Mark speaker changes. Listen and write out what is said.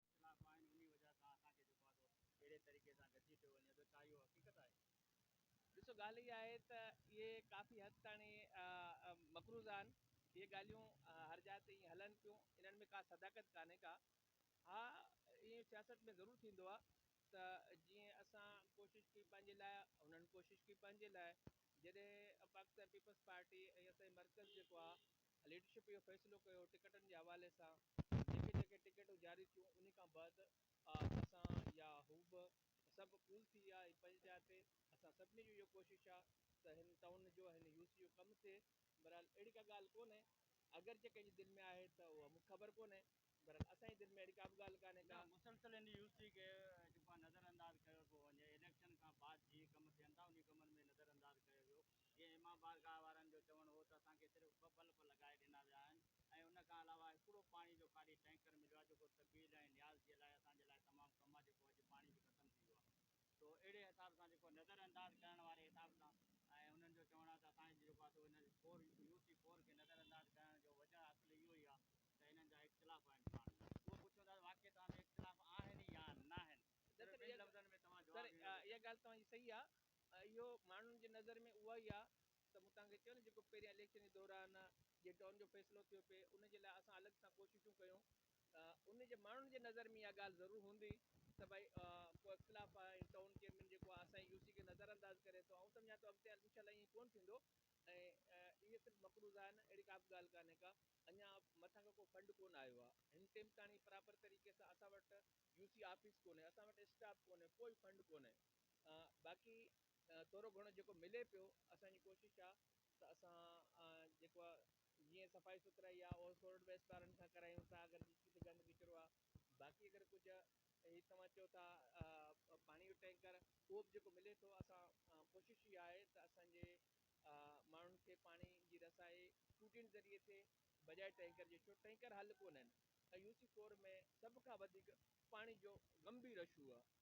Speaker 1: اختلاف آهن انهي وجهه سان اسان کي جيڪو آهي سو اهڙي طريقي سان گسي پيو وڃي ٿو ڇا اهو حقيقت آهي؟ ڏسو
Speaker 2: ڳالهه اها آهي ته اهي ڪافي حد تائڻي مقروض آهن اهي ڳالهيون هر جاء تي ائين هلن پيون انهن ۾ ڪا صداقت ڪانهي ڪا ها ائين سياست ۾ ضرور ٿيندو آهي ته جيئن اسان ڪوشش ڪئي پنهنجي لاء انهن ڪوشش ڪئي پنهنجي لاء جڏهن پاڪستان پيپلز پارٽي ۽ اسان جي مرڪز جيڪو آهي ليڊرشپ اهو فيصلو ڪيو ٽڪيٽن جي حوالي سان جيڪي جيڪي ٽڪيٽون جاري ٿيون انهي کان بعد اسان يا هو به سڀ ڪول ٿي ويا ۽ پنهنجي جاء تي اسان سڀني جو اهو ڪوشش آهي ته هن ٽائون جو هن يو سي جو ڪم ٿئي بهرحال اهڙي ڪا ڳالهه ڪونهي اگر جي ڪنهن جي دل ۾ آهي ته اها مونکي خبر ڪونهي بهرحال اسان جي دل ۾ اهڙي ڪا به ڳالهه ڪانهي ڪا مسلسل هن يو
Speaker 1: سي
Speaker 2: کي
Speaker 1: جيڪو آهي نظر انداز ڪيو پيو وڃي اليڪشن کان بعد جي ڪم ٿين ٿا انهي ڪمن ۾ نظر انداز ڪيو ويو جيئن امام بارگاهه وارن جو چوڻ هو ته اسان کي صرف ٻه بلب لڳائي ڏنا ويا آهن ۽ ان کان علاوه هڪڙو پاڻي جو خالي ٽينڪر مليو آهي جيڪو طبيل ۽ نياز جي لاء اسان جي لاء تمام ڪم آهي جيڪو اڄ پاڻي به ختم ٿي ويو آهي سو اهڙي حساب سان جيڪو نظر انداز ڪرڻ واري حساب سان ۽ انهن جو چوڻ آهي ته اسان جي جيڪو آهي سو هن فور يو سي فور کي نظر انداز ڪرڻ جو وجهه اصل اهو ئي آهي ته هنن جا اختلاف آهن پاڻ ۾ اهو پڇون ٿا ته واقعي توهان ۾ اختلاف آهن يا ناهن صرف ٻن لفظن
Speaker 2: ۾ توهان جواب
Speaker 1: ڏيو سر اها ڳالهه توهان جي صحيح
Speaker 2: آهي اهو ماڻهن جي نظر ۾ اها ئي آهي ته مون توهان کي چيو نه جيڪو پهريان اليڪشن جي دوران جي ڊون جو فيصلو ٿيو پئي ان جي لاء اسان الڳ سان ڪوششون ڪيون ته ان جي ماڻهن جي نظر ۾ اها ڳالهه ضرور هوندي ته ڀائي ڪو اختلاف آهي ۽ ٽائون چيئرمين جيڪو آهي اسان جي يو سي کي نظر انداز ڪري ٿو آئون سمجهان ٿو اڳتي هلي انشاء الله ائين ڪونه ٿيندو ۽ اهي صرف مقروض آهن اهڙي ڪا به ڳالهه ڪانهي ڪا اڃا مٿان کان ڪو فنڊ ڪونه آيو آهي هن ٽيم تاڻي پراپر طريقي سان اسان وٽ يو سي آفيس ڪونهي اسان وٽ اسٽاف ڪونهي ڪوئي فنڊ ڪونهي باقي ٿورو گهڻو جيڪو ملي پيو اسان جي ڪوشش آ ته اسان جيڪو آ جيئن صفائي سٿرائي آ اهو سولڊ ويسٽ وارن کان ڪرايون ٿا اگر جتي ڪٿي گند ڪچرو آ باقي اگر ڪجهه هي توهان چئو ٿا پاڻي جو ٽينڪر اهو به جيڪو ملي ٿو اسان ڪوشش اها آهي ته اسان جي ماڻهن کي پاڻي جي رسائي ٽوٽين ذريعي ٿئي بجاء ٽينڪر جي ڇو ٽينڪر حل ڪونهن ۽ يو سي فور ۾ سڀ کان وڌيڪ پاڻي جو گنڀير اشو آ